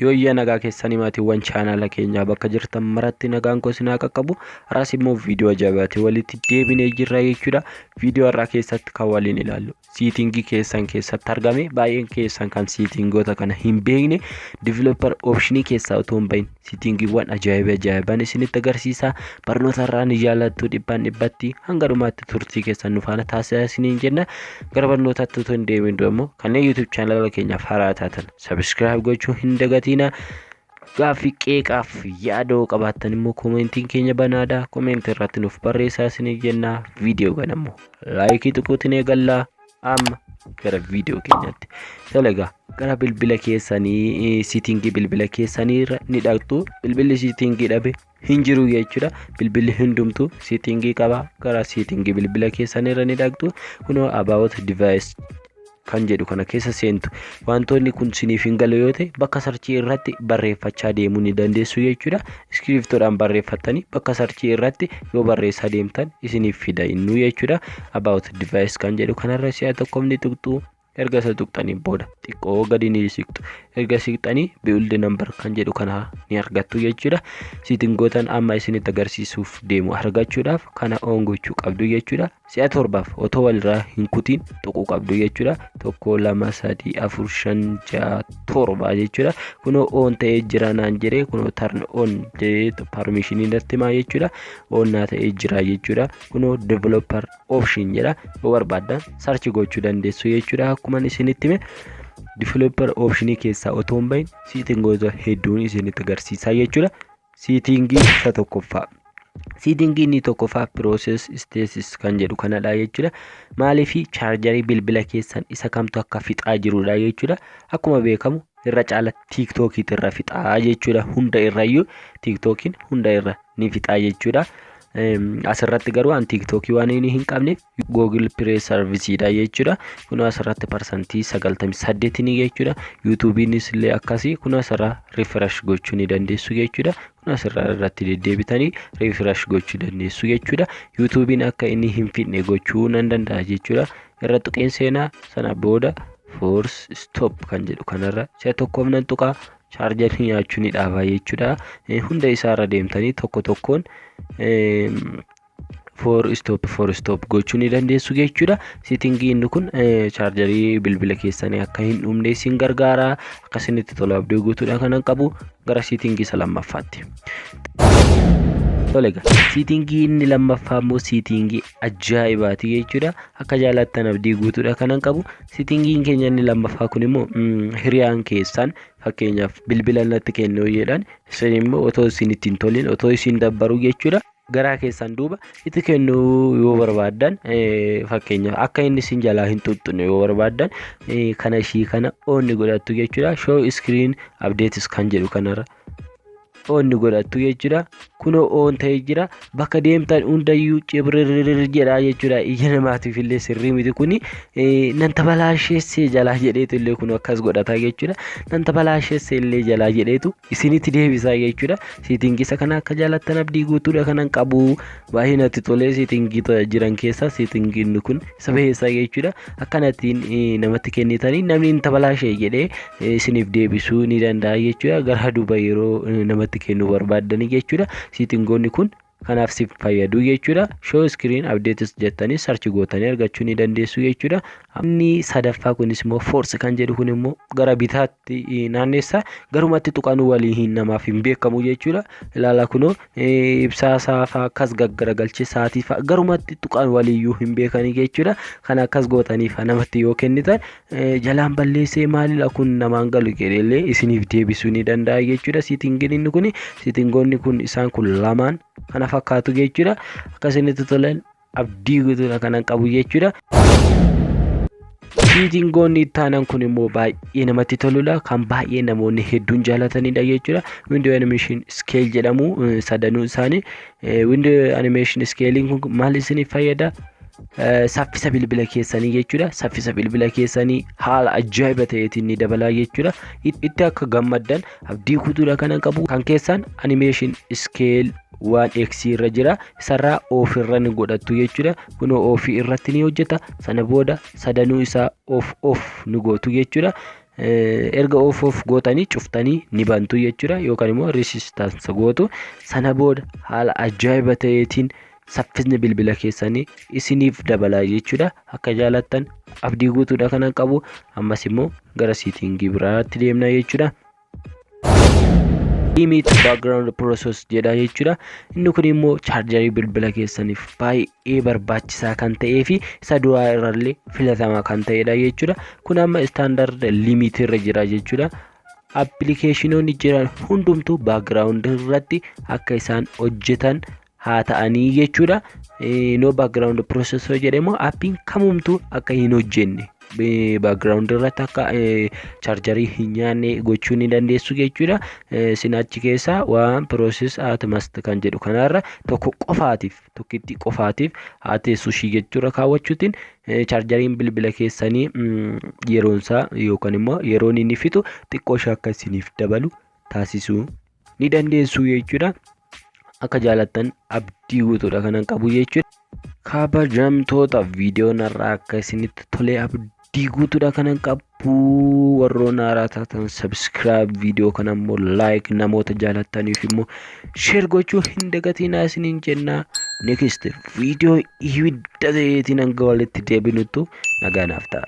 Yooyyaa nagaa keessanii maatiiwwan chaanaala keenyaa bakka jirtan maratti nagaan koo isin haa qaqqabu. Har'as immoo viidiyoo ajaa'ibaati walitti deebinee jirra jechuudha. Viidiyoo har'aa keessatti kan waliin ilaallu siitingii keessan keessatti argame baay'een keessan kan siitingoota kana hin beekne divilooppar oopshinii keessaa otoo hin bahin Sitingiiwwan ajaa'iba ajaa'iban isinitti agarsiisa. Barnoota irraa ni jaallattu dhibbaan dhibbatti hanga dhumaatti turtii keessan nu faana taasisaa isiniin jenna. Gara barnootaatti utuu hin deemin dura immoo kanneen YouTube chaanala keenyaaf haaraa taatan sabiskiraayib gochuu hin dagatiina. Gaaffii qeeqaaf yaadoo qabaattan immoo koomentiin keenya banaadha. Koomentii irratti nuuf barreessaa isiniin jenna. Viidiyoo kana immoo laayikii tuquutiin eegallaa. Amma gara viidiyoo keenyaatti. Tole egaa gara bilbila keessanii siitingii bilbila keessanii irra ni dhaqxu. Bilbilli siitingii dhabe hin jiru jechuudha. Bilbilli hundumtuu siitingii qaba. Gara siitingii bilbila keessanii irra ni dhaqxu. Kunoo about device kan jedhu kana keessa seentu. Wantoonni kun siniif hin galu yoo ta'e bakka sarchii irratti barreeffachaa deemuu ni dandeessu jechuudha. iskiriiptoodhaan barreeffattanii bakka sarchii irratti yoo barreessaa deemtan isiniif fida innuu jechuudha about device kan jedhu kanarra si'a tokkoof ni tuqxu erga isa tuqxanii booda xiqqoo gadi ni siqxu erga siqxanii build number kan jedhu kana ni argattu jechuudha siitingootan amma isinitti agarsiisuuf deemu argachuudhaaf kana oon gochuu qabdu jechuudha si'a torbaaf otoo walirraa hin kutiin tuquu qabdu jechuudha. Tokko, lama, sadii, afur, shan, ja'a, torba jechuudha. Kunoo oon ta'ee jira naan jedhee kunoo tarn oon jedhee parmishinii natti himaa jechuudha. Oon naa ta'ee jira jechuudha. Kunoo developer option jedha. Yoo barbaaddan sarchi gochuu dandeessu jechuudha. Akkuman isinitti hime developer optionii keessaa otoo hin bahin siitingoota hedduun isinitti agarsiisaa jechuudha. Siitiingii isa tokkoffaa. Siitiingii inni tokkoffaa process status kan jedhu kanadha jechuudha. Maaliif chaarjarii bilbila keessan isa kamtu akka fixaa jirudha jechuudha. Akkuma beekamu irra caala tiiktookiitu irra fixaa jechuudha. Hunda irrayyuu tiiktookiin hunda irra ni fixaa jechuudha. Asirratti garuu an tiiktookii waan inni hin qabneef Google Play Service dha jechuudha. Kun asirratti parsantii 98 ni jechuudha. YouTube'nis illee akkasii kun asirra refresh gochuu ni dandeessu jechuudha. Kun asirra irratti deddeebitanii refresh gochuu dandeessu jechuudha. YouTube'n akka inni hin fidne gochuu nan danda'a jechuudha. Irra tuqeen seenaa sana booda force stop kan jedhu kanarra si'a tokkoof nan tuqaa chaarjarii nyaachuu ni dhaabaa jechuudha. Hunda isaarra deemtanii tokko tokkoon for stop for stop gochuu ni dandeessu jechuudha sitingii inni kun chaarjarii bilbila keessanii akka hin dhumne isin gargaara akkasinitti tola abdii guutuudha kanan qabu gara sitingii isa lammaffaatti tolega sitingii inni lammaffaa immoo sitingii ajaa'ibaati jechuudha akka jaalattan abdii guutuudha kanan qabu sitingiin keenya inni lammaffaa kun immoo hiriyaan keessaan fakkeenyaaf bilbila natti kennuu jedhan isin immoo otoo isin ittiin tolin otoo isin dabbaru jechuudha garaa keessaan duuba itti kennuu yoo barbaaddan fakkeenyaaf akka inni isin jalaa hin tuttuqne yoo barbaaddan kana ishii kana oonni godhattu jechuudha show screen updates kan jedhu kanarra oonni godhattu jechuudha kunoo oon ta'ee jira bakka deemtan hundayyuu cibrirrir jedhaa jechuudha ija namaatiif illee sirrii miti kuni nan tabalaasheessee jalaa jedheetu illee kun akkas godhata jechuudha nan tabalaasheessee illee jalaa jedheetu isinitti deebisaa jechuudha Siitingii isa kana akka jaalattan abdii guutuudha kanan qabu baay'ee natti tolee siitingii jiran keessaa siitingii inni kun isa baheessaa jechuudha akkanattiin namatti kennitanii namni hin tabalaashee jedhee isiniif deebisuu ni danda'a jechuudha gara duuba yeroo namatti kennuu barbaaddanii jechuudha siitingoonni kun kanaaf siif fayyadu jechuudha. Show screen updates jettanii search gootanii argachuu ni dandeessu jechuudha. Inni sadaffaa kunis immoo force kan jedhu kun immoo gara bitaatti naanneessa garumatti tuqanuu walii hin namaaf hin beekamu jechuudha. Ilaala kunoo ibsaa isaa fa'aa akkas gaggaragalchee sa'aatii fa'aa garumatti tuqan waliiyyuu hin beekanii jechuudha. Kan akkas gootanii fa'aa namatti yoo kennitan jalaan balleessee maalidha kun namaan galu jedheellee isiniif deebisuu ni danda'a jechuudha siitingiin inni kun siitingoonni kun isaan kun lamaan kana fakkaatu jechuudha akka isinitti tolan abdii guutuudha kanan qabu jechuudha. Siitingoonni ittaanan kun immoo baay'ee namatti toludha kan baay'ee namoonni hedduun jaalatanidha jechuudha windoo animeeshin iskeel jedhamu sadanuu isaanii windoo animeeshin iskeeliin kun maal isiniif fayyada saffisa bilbila keessanii jechuudha. Saffisa bilbila keessanii haala ajaa'iba ta'eetiin ni dabalaa jechuudha. Itti akka gammaddan abdii guutuudha kanan qabu. Kan keessan animation scale waan x irra jira isarraa of irra ni godhattu jechuudha. Kunoo of irratti ni hojjeta sana booda sadanuu isaa of of ni gootu jechuudha. Erga of of gootanii cuftanii ni bantu jechuudha yookaan immoo resistance gootu sana booda haala ajaa'iba ta'eetiin saffisni bilbila keessanii isiniif dabalaa jechuudha akka jaalattan abdii guutuudha kanan qabu ammas immoo gara siitingii biraatti deemna jechuudha. limit background process jedha jechuudha inni kun immoo chaarjarii bilbila keessaniif baay'ee barbaachisaa kan ta'ee fi isa duraa irrallee filatamaa kan ta'edha jechuudha kun amma istaandard limit irra jira jechuudha appilikeeshinoonni jiran hundumtuu background irratti akka isaan hojjetan haa ta'anii jechuudha. No background process yoo jedhe immoo appiin kamumtuu akka hin hojjenne background irratti akka chaarjarii hin nyaanne gochuu ni dandeessu jechuudha. Isin achi keessaa waan process at must kan jedhu kanarra tokko qofaatiif tokkittii qofaatiif haa teessu ishii jechuudha kaawwachuutiin chaarjariin bilbila keessanii yeroonsaa yookaan immoo yeroon inni fixu xiqqoo ishee akka isiniif dabalu taasisuu ni dandeessu jechuudha. Akka jaalattan abdii guutuudha kanan qabu jechuudha. Kabajamtoota viidiyoon har'aa akka isinitti tolee abdii guutuudha kanan qabu warroon haaraa taatan sabiskiraayib viidiyoo kana immoo laayik namoota jaalattaniif immoo sheer gochuu hin dagatinaa isiniin jennaa next viidiyoo ibidda ta'eetiin hanga walitti deebinuttu nagaa naaf ta'a.